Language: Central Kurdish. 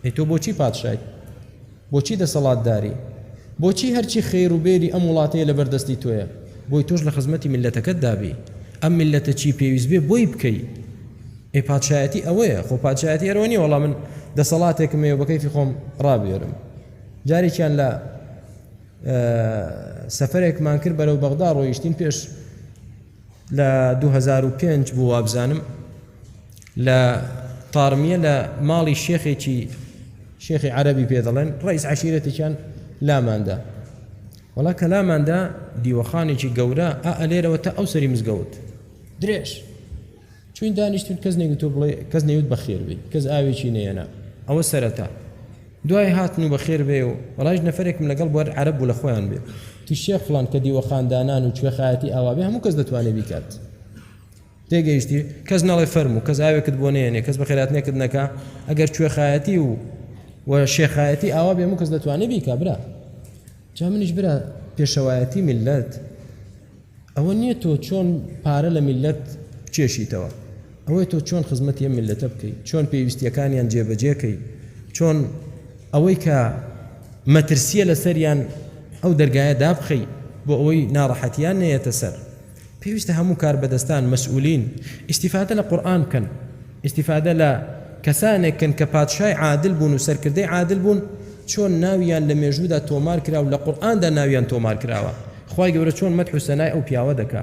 ئەی تۆ بۆچی پادشای بۆچی دەسەڵاتداری بۆچی هەرچی خێر و بێری ئەم وڵاتەیە لە بەردەستی تۆیە بۆی تۆش لە خزمەتی میلەتەکەت دابی ئەم میلەتە چی پێویست بێ بۆی بکەی ئەی پادشایەتی ئەوەیە خۆ پادشایەتی ئەرۆ نیە وەڵام من دەسەڵاتێکم ێ بەکەیفی خۆم ڕابێرم جارێکیان لە سەفرێکمان کرد بەرەو بەغدا ڕۆیشتین پێش لە دوو هەزار و پێنج بوو وابزانم لە تارمیە لە ماڵی شێخێکی شێخی عەربی پێ دەڵێن ڕئیس عشیرەتێکیان لاماندا وڵا کە لاماندا دیوەخانێکی گەورە ئا ئەلێرەوە تا ئەو سەری مزگەوت درێژ چوین دانیشتین کەس نەیوت تۆ بڵێ کەس نەیوت بەخێر بێی کەس ئاوێکی نەیەنا ئەوە سەرەتا دوای هاتن و بەخێر بێی و بەڵایش نەفەرێکم لەگەڵ بوار عەرەب بوو لە خۆیان بێ تی شێخ فڵان کە دیوەخان دانان و کوێخایەتی ئاوا بێ هەموو کەس دەتوانێ بیکات تێگەیشتی کەس نەڵێ فەرم و کەس ئاوێکت بۆ نێنێ کەس بەخێرات نێکت نەکە ئەگەر کوێخایەتی و و شێخایەتی ئاوا بێ هەموو کەس دەتوانێ بیکا برا جا منیش برا پێشەوایەتی ملت ئەوە نیە تۆ چۆن پارە لە میللەت بچێشیتەوە ئەوەی تۆ چۆن خزمەتی ئەم میللەتە بکەی چۆن پێویستیەکانیان جێبەجێکەی چۆن ئەوەی کە مەترسیە لەسەریان ئەو دەرگایە دابخەی بۆ ئەوەی ناڕەحەتیان نەیەتە سەر پێویستە هەموو کار بەدەستان مەسئولین ئیسیفادە لە قورآن بکەن ئیستیفادە لە کەسانێک کەن کە پادشای عادل بوون و سەرکردەی عادل بوون چۆن ناویان لە مێژوودا تۆمار کرا و لە قورئاندا ناویان تۆمار کراوە خوای گەورە چۆن مەدح و سەنای ئەو پیاوە دەکا.